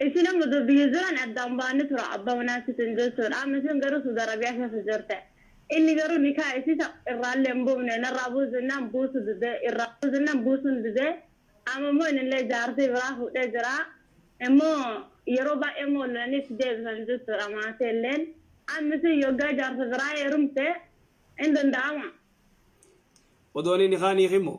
Isin amma dur biyya jiran addaan baane tura abba manaa sitin jechuun amma isin garuu suda Arabia keessa jirte inni garuu nikaa isii ta irraallee hin buufne narraa buusi jennaan buusu dide irraa buusi jennaan buusun dide amma immoo inillee jaartii biraa fuudhee jira immoo yeroo baay'ee immoo wal lolanii itti deebisan jechuudha maatiilleen amma isin yoggaa jaarsa biraa heerumte hin danda'ama. Odooni nikaa hin hiikin moo.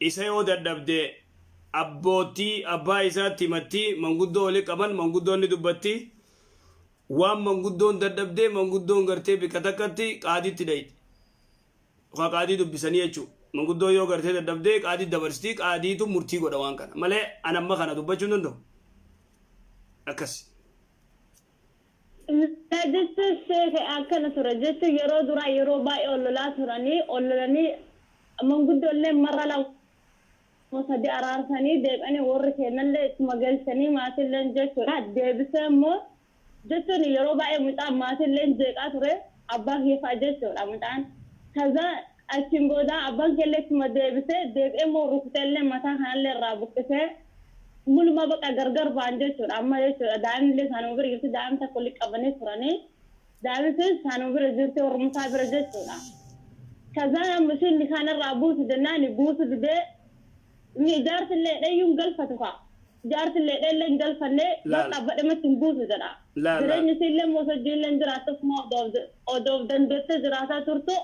Isa yoo dadhabde abboottii, abbaa isaatti himatti, manguddoo wali qaban, manguddoon ni dubbatti. Waan manguddoon dadhabde manguddoon gartee bikka takkatti qaadiitti dhayxi. Yookaa qaadii dubbisanii jechuu. Manguddoon yoo gartee dadhabde qaadiitti dabarsiti, qaadiitu murtii godha waan kana. Malee an amma kana dubbachuu hin danda'u. Akkasi. Lolaa jechuun sheekh akkana ture jechuun yeroo duraa yeroo baay'ee ol lolaa turanii ol lolanii manguddoolleen marra lama sadii araarsanii deebi'anii warri keennallee ittuma galchanii maatiilleen jechuudha deebisee immoo jechuun yeroo baay'ee mucaan maatiilleen jeeqaa ture abbaa kiyya fa'a jechuudha mucaan kazaa Achiin booda abbaan keellee ittuma deebise, deebi'ee immoo rukuteellee mataa kanallee irraa buqqisee mulumaa baqa gargar ba'an jechuudha. Amma jechuudha daa'imnillee isaanuma bira jirti, daa'ima takka walitti qabanii turani. Daa'imni sunis isaanuma bira jirti, warruma isaa bira jechuudha. Kazaan amma ishiin nikaan irraa buusi jennaani buusu didee. Ni jaartillee dheeyyuun galfatu kaa. Jaartillee dheellee hin galfanne Laal. bakka abba dhemetti hin buusu jedha. Laal, laal. Jireenyi isiillee immoo osoo jiillee hin jiraattu ofuma odoo of da- odoo of dandeettee jiraataa turtu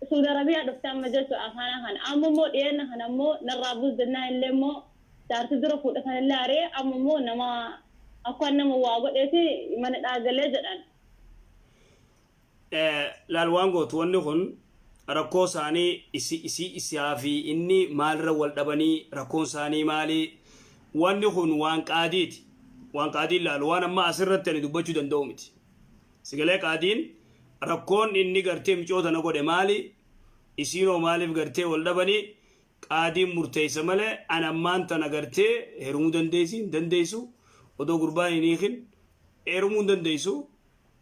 Suudi Arabiyaa dhufte amma jechuudha afaanaa kana. Amma immoo dhiyeenna kana immoo narraa buus jennaan illee immoo jaartii dura fuudhe sana illee ari'ee amma immoo nama akkaan nama waa godheeti mana hidhaa galee jedhan. Laal waan gootu wanni kun rakkoo isaanii isi isii isaa fi inni maalirra wal dhabanii rakkoon isaanii maali wanni kun waan qaadiiti waan qaadiin laalu waan amma asirratti ani dubbachuu danda'u miti sigalee qaadiin rakkoon inni gartee micoo tana godhe maali isiinoo maaliif gartee wal dhabanii qaadiin murteessa malee an ammaan tana gartee herumuu dandeessi hin dandeessu odoo gurbaan hin hiikin herumuu hin dandeessu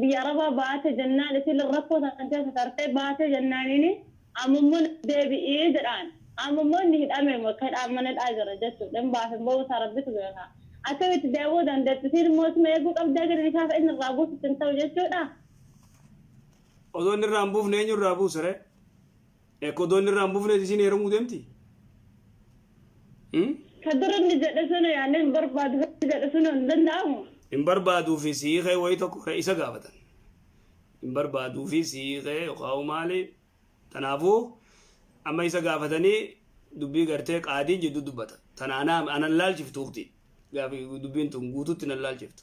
biyya arabaa baate jennaan isiin rakkoo san keessa tartee baate jennaaniin amma immoo deebi'ii jedhaan amma immoo inni hidhame bakka hidhaan mana hidhaa jira jechuudha hin baasin ba'uu isaa rabbitu beeka akkamitti deebi'uu dandeetti isiin immoo isuma eeguu qabdaa gadi dhiisaaf inni irraa buusutti hin ta'u jechuudha. Osoo inni irraa hin buufne eenyu irraa buusare? Ekodoon irraa hin bufnees isiin heerumuu deemti. Hmm? Ka dura inni jedhe sana yaanee hin barbaadu hojii jedhe sun hin danda'amu. Hin barbaaduu fi siiqee wayii tokko irra isa gaafatan. Hin barbaaduu fi siiqee yookaan maali. Kanaafuu amma isa gaafatanii dubbii gartee qaadiin jidduu dubbata. Tana anaa anan laalchiftu ukti. Gaafi dubbiin tun guutuutti nan laalchiftu.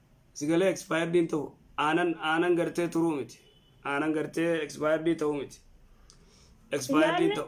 Sigalee expired hin ta'u. Aanan aanan gartee turuu miti. Aanan gartee expired ta'uu miti. Expired hin ta'u.